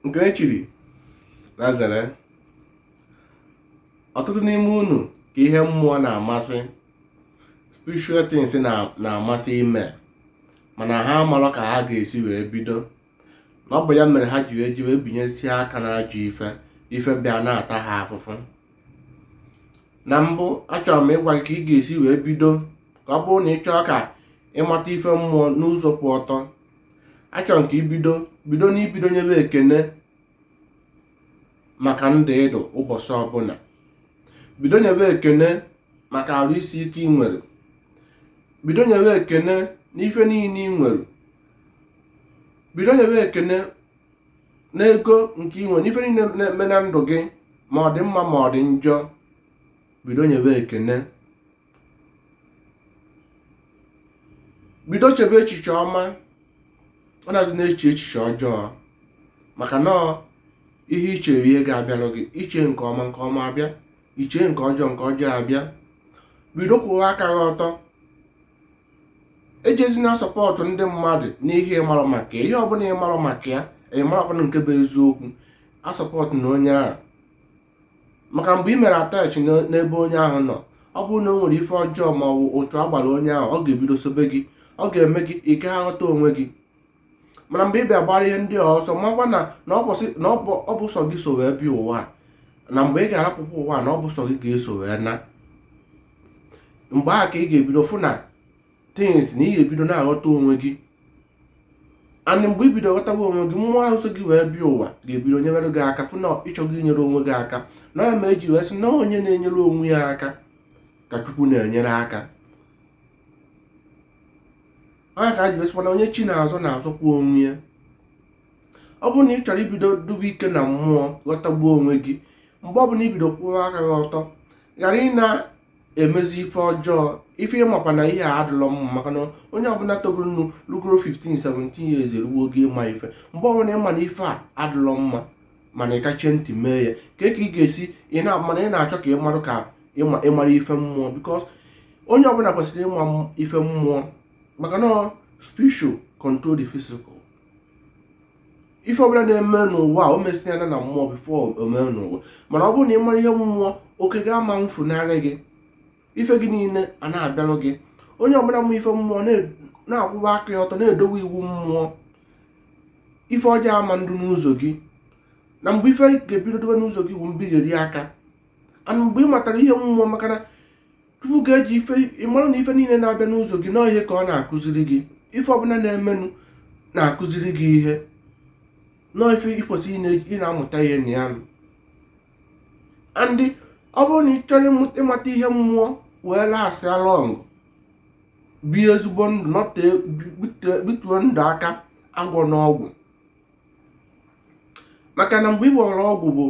nke e chiri na zere ọtụtụ n'ime unu ka ihe mmụọ na-amasị spiritual things na-amasị ime mana ha amarọ ka ha ga-esi wee bido na ọ bụ ya mere ha ji wee ji wee binyesie aka n'ajọ ife ife bịa na-ata ha afụfụ na mbụ achọrọ m ịgwa gị ka ị ga-esi wee bido ka ọ bụrụ na ị chọọ ka ị mata ife mmụọ n'ụzọ kwụ ọtọ achọrọ m ka i bido bido n'ibido nyebe ekene maka ndụ ị dụ ụbọchị ọbụla bido nyebe ekene maka arụ isi ike ị nwere bido nyebe ekene n'ife niile ị nwere bido nyebe ekene n'ego nke ị nwere n'ife niile na-eme na ndụ gị ma ọ dị mma ma ọ dị njọ bido nyebe ekene bido chebe echiche ọma anazịna eche echiche ọjọọ maka na ihe i chere ga-abịarụ gị i chee nke ọma nke ọma abịa i chee nke ọjọọ nke ọjọọ abịa bido kwụwa aka gị ọtọ ejezina asọpọtụ ndị mmadụ n'ihe ị marọ maka ya ihe ọbụla ị marọ maka ya ị marọ ọbụla nke bụ eziokwu asọpọtụna onye ahụ maka mgbe ị mere attach n'ebe onye ahụ nọ ọ bụrụ na o nwere ife ọjọọ ma ọ bụ uchu a gbara onye ahụ ọ ga-ebido sobe gị ọ ga-eme gị ị gaghị aghọta onwe gị mana mgbe ị bịa gbara ihe ndị a ọsọ makwa na na ọ bụsị- na ọ bụ ọ bụ sọ gị so wee bịa ụwa a. na mgbe ị ga-arapụkwa ụwa a, na ọ bụ sọ gị ga-eso wee naa mgbe ahụ ka ị ga-ebido fụ na things na ị ga-ebido na-aghọta onwe gị and mgbe i bido ghọtawa onwe gị mmụọ ahụ so gị wee bịa ụwa ga-ebido nyere gị aka fụ na ị chọghị inyere onwe gị aka na ya mere e ji wee sị na onye na-enyere onwe ya aka ka Chukwu na-enyere aka ọ ya ka e ji wee sịkwa na onye chi na-azọ na-azọkwa onwe ya ọ bụrụ na ị chọrọ ibido dụbe ike na mmụọ ghọtagbuo onwe gị mgbe ọbụla i bido kwụwa aka gị ọtọ ghara ị na emezi ife ọjọọ ife ị makwa na ihe a adịlọ mma maka na onye ọbụla togoronụ rugoro 15 17 years eruo oge ịma ife mgbe ọbụla ị ma na ife a adịlọ mma mana ị kachie ntị mee ya kee ka ị ga-esi mana ị na-achọ ka ị marụ ka ị mara ife mmụọ because onye ọbụla kwesịrị ịma ife mmụọ maka na spiritual control the physical ife ọbụla na-eme n'ụwa o mesịana na mmụọ before o mee n'ụwa mana ọ bụrụ na ị mara ihe mmụọ oke gị ama mfunarị gị ife gị niile a na-abịarụ gị onye ọbụla ma ife mmụọ na-akwụwa aka ya ọtọ na-edowe iwu mmụọ ife ọjọọ ama ndụ n'ụzọ gị na mgbe ife ga-ebido dụbe n'ụzọ gị iwu mbigheri aka and mgbe ị matara ihe mmụọ maka na chukwu ga-eji ife ịmara na ife niile na-abịa n'ụzọ gị na ọ ihe ka ọ na-akụziri gị ife ọbụla na-emenụ na-akụziri gị ihe na ọ ife i kwesịrị ị na-amụta ihe na ya and ọ bụrụ na ị chọrọ ịmata ihe mmụọ wee last long bie ezigbo ndụ nọta bituo ndụ aka agwọ n'ọgwụ maka na mgbe ị gwọrọ ọgwụ bụ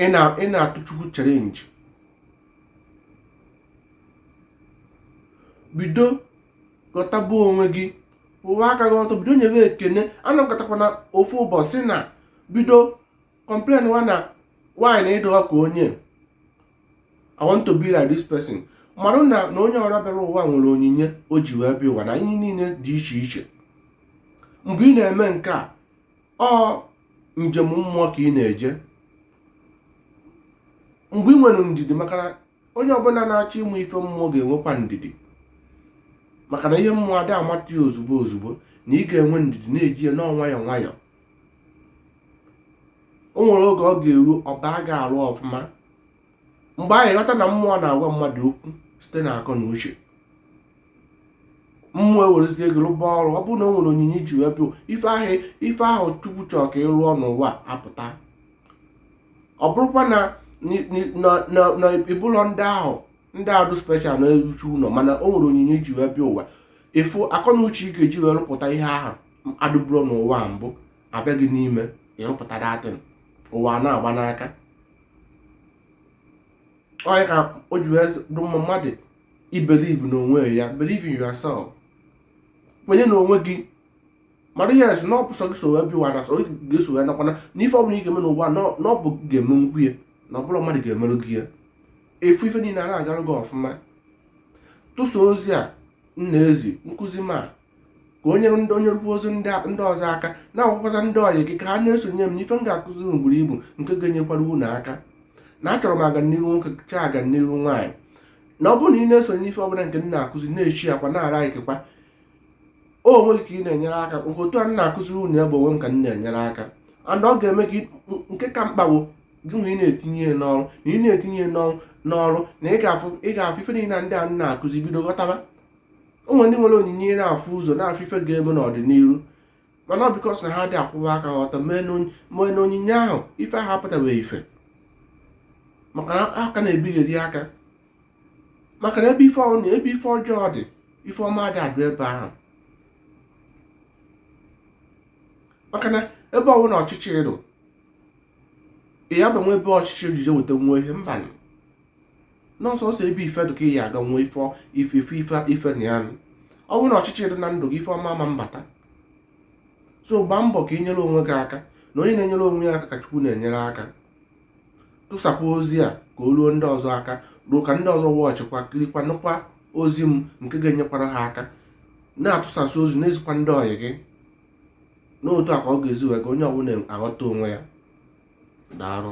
ị na-atụ chukwu challenge bido ghọtaba onwe gị kwụwa aka gị ọtọ bido nyebe ekene anọkọtakwana ofu ụbọchị na bido complain na why na ị dụọ ka onye I want to be like this person marụ na onye ọbụla bịara ụwa nwere onyinye o ji wee bịa ụwa na ihe niile dị iche iche mgbe ị na-eme nke a ọ njem mmụọ ka ị na-eje mgbe ị nwere ndidi maka na onye ọbụla na-achọ ịmụ ife mmụọ ga-enwekwa ndidi maka na ihe mmụọ adị amata ya ozugbo ozugbo na ị ga-enwe ndidi na-eji ya na ọ nwayọọ nwayọọ o nwere oge ọ ga-eru ọba ga-arụ ọfụma mgbe anyị ghọta na mmụọ na-agwa mmadụ okwu site na akọ na uche mmụọ ewerezie gị rụba ọrụ ọ bụrụ na o nwere onyinye i ji wee bịa ife ahụ ife ahụ chukwu chọrọ ka ị rụọ n'ụwa apụta ọ bụrụkwa na na ị bụrọ ndị ahụ ndị adụ special na-eruchu ụlọ mana o nwere onyinye i ji wee bịa ụwa ị fụ akọ na uche ị ga-eji wee rụpụta ihe ahụ adụburọ n'ụwa mbụ abịa gị n'ime ị rụpụta that thing ụwa na-agba n'aka ọ ya ka o ji wee dụ mma mmadụ ibelieve n'onwe ya believe in yourself kwenye n'onwe gị mara yes na ọ bụ sọ gị so wee bịa ụwa na sọ gị ga-eso wee nakwana na ife ọbụla ị ga-eme n'ụwa na ọ bụ gị ga-emenwu ya na ọ bụrọ mmadụ ga-emerụ gị ya ị fụ ife niile a na-agarụ gị ọfụma tụsa ozi a m na-ezi nkụzi m a ka o nyere ndị o nyerụkwazi ndị ọzọ aka na-agwakwata ndị ọyị gị ka ha na-esonye m n'ife m ga-akụzi unu buru ibu nke ga-enyekwara unu aka na achọrọ m aganiru nwoke chọọ aganiru nwaanyị na ọ bụrụ na ị na-esonye n'ife ọbụla nke m na-akụzi na-echi akwa na-ara ikekwa o onwe gị ka ị na-enyere aka nke otu a m na-akụziri unu ya bụ onwe m ka m na-enyere aka and ọ ga-eme gị nke ka mkpa bụ gịnwa ị na-etinye ya n'ọrụ na ị na-etinye ya n'ọrụ na ị ga-afụ ife niile ndị a m na-akụzi bido ghọtaba o nwere ndị nwere onyinye ị na-afụ ụzọ na-afụ ife ga-eme n'ọdịnihu mana ọ because na ha adị akwụwa aka ha ọtọ mee na onyinye ahụ ife ahụ apụtabeghị ife maka na ha ka na-ebigharị aka maka na ebe ife ọnụ ebe ife ọjọọ dị ife ọma adị adụ ebe ahụ maka na ebe ọwụna ọchịchịrị ị ya-abanye ebe ọchịchịrị ije weta nwa ihe mbanụ n'ọsọsọ ebe ife dụ ka ị ya aga nwee ife na ya. ọ bụrụ na ọchịchị dị na ndụ gị ife ọma ama mbata so gbaa mbọ ka ị nyere onwe gị aka na onye na-enyere onwe ya aka ka chukwu na-enyere aka tụsapụ ozi a ka o ruo ndị ọzọ aka ruo ka ndị ọzọ watchịkwa kirikwa nụkwa ozi m nke ga-enyekwara ha aka na-atụsasị ozi na-ezikwa ndị ọyị gị n'otu a ka ọ ga-esi wee ka onye ọbụla aghọta onwe ya daalụ